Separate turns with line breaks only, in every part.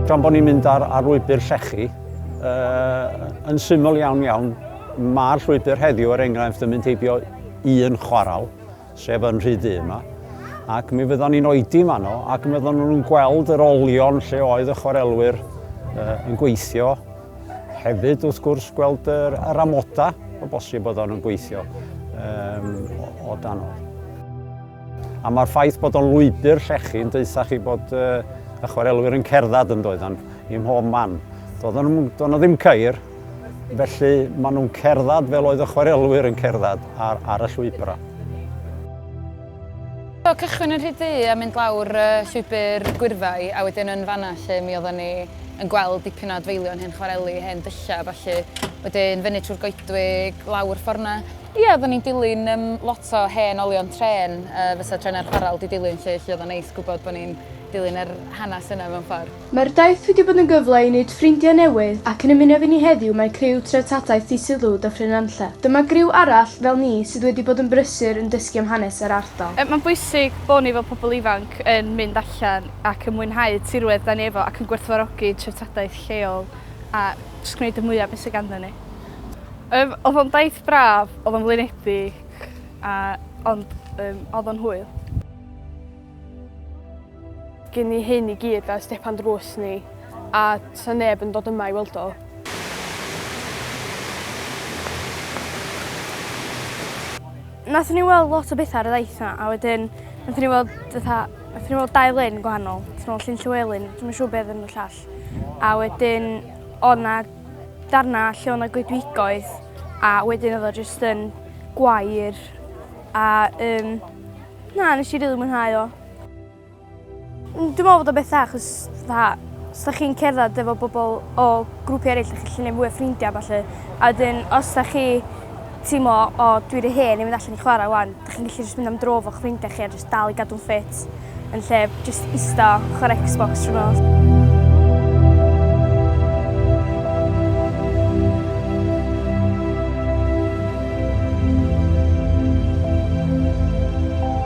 Gan bod ni'n mynd ar, ar lwybr llechi, uh, yn syml iawn iawn, mae'r llwybr heddiw, er enghraifft, yn mynd heibio un chwaral, sef yn rhy ddu yma, ac mi fyddwn ni'n oedi yn fanno, ac mi fyddwn nhw'n gweld yr olion lle oedd y chwarelwyr uh, yn gweithio. Hefyd, wrth gwrs, gweld yr, yr amoda o bosib bod o'n gweithio um, o, o dan o. A mae'r ffaith bod o'n lwybr llechi yn deutha chi bod uh, y chwarelwyr yn cerdded yn doeddan i mhob man. Doeddan nhw ddim ceir, Felly, maen nhw'n cerdded fel oedd y chwarelwyr yn cerdded ar, ar y llwybrau.
Do, cychwyn yn rhy du a mynd lawr uh, llwybr gwyrfau, a wedyn yn fanna lle mi oedden ni yn gweld dipyn o adfeilion hen chwareli, hen dyllau, falle. Wedyn fyny trwy'r goedwig, lawr fforna. Ie, oeddwn ni'n dilyn um, lot o hen olion tren, uh, fysa trenau'r chwarel di dilyn lle, lle oeddwn neis gwybod bod ni'n dilyn yr hanes yna mewn ffordd. Mae'r daith wedi bod yn
gyfle i wneud ffrindiau newydd ac yn ymuno efo ni heddiw mae criw Treftadaeth Ddisul Ddwd a Phryn Nantlle. Dyma griw arall fel ni sydd wedi bod yn brysur yn dysgu am hanes yr ardal. Mae'n bwysig bod
ni fel pobl ifanc yn mynd allan ac yn mwynhau tirwedd 'da ni efo ac yn gwerthfawrogi treftadaeth lleol a jyst gwneud y mwya' o be' sy' ganddon ni. Yym o'dd o'n daith braf, o'dd o'n flinedig a ond yym o'dd o'n hwyl.
Gyn ni hyn i gyd a stepan drws ni a sa neb yn dod yma i weld o.
Nathon ni weld lot o betha ar y ddaith 'na a wedyn nathon ni weld fatha nathon ni weld dau lyn gwahanol. Nathon ni weld Llyn Llywelyn, dwi'm yn siŵr be' odd enw'r llall. A wedyn o' 'na darna lle o' 'na goedwigoedd a wedyn odd o jyst yn gwair a yym na nesh i rili mwynhau o. Mm, Dwi'n meddwl bod o beth dda, chos dda, os da chi'n cerdded efo bobl o grwpi eraill, da chi'n gallu gwneud mwy o ffrindiau falle. A wedyn, os da chi teimlo, o, dwi wedi hen i mynd allan i chwarae wan, da chi'n gallu jyst mynd am dro fo'ch ffrindiau chi a jyst dal i gadw'n ffit yn lle jyst ista chwarae Xbox trwy nos.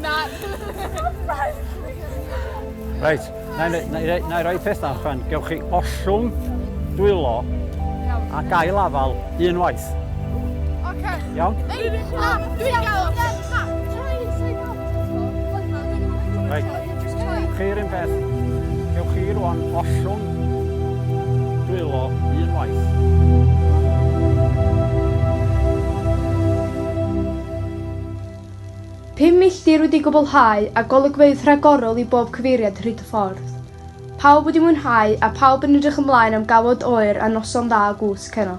Na. Reit, na i, na i, na i roi peth allan. Gewch chi ollwng, dwylo a gael afal unwaith. Oce. Iawn? Dwi'n gael Reit, chi'r un peth. Gewch chi rwan ollwng, dwylo unwaith.
Pum milltir wedi gwblhau a golygfeydd rhagorol i bob cyfeiriad hyd y ffordd. Pawb wedi mwynhau a phawb yn edrych ymlaen am gawod oer a noson dda o gwsg heno.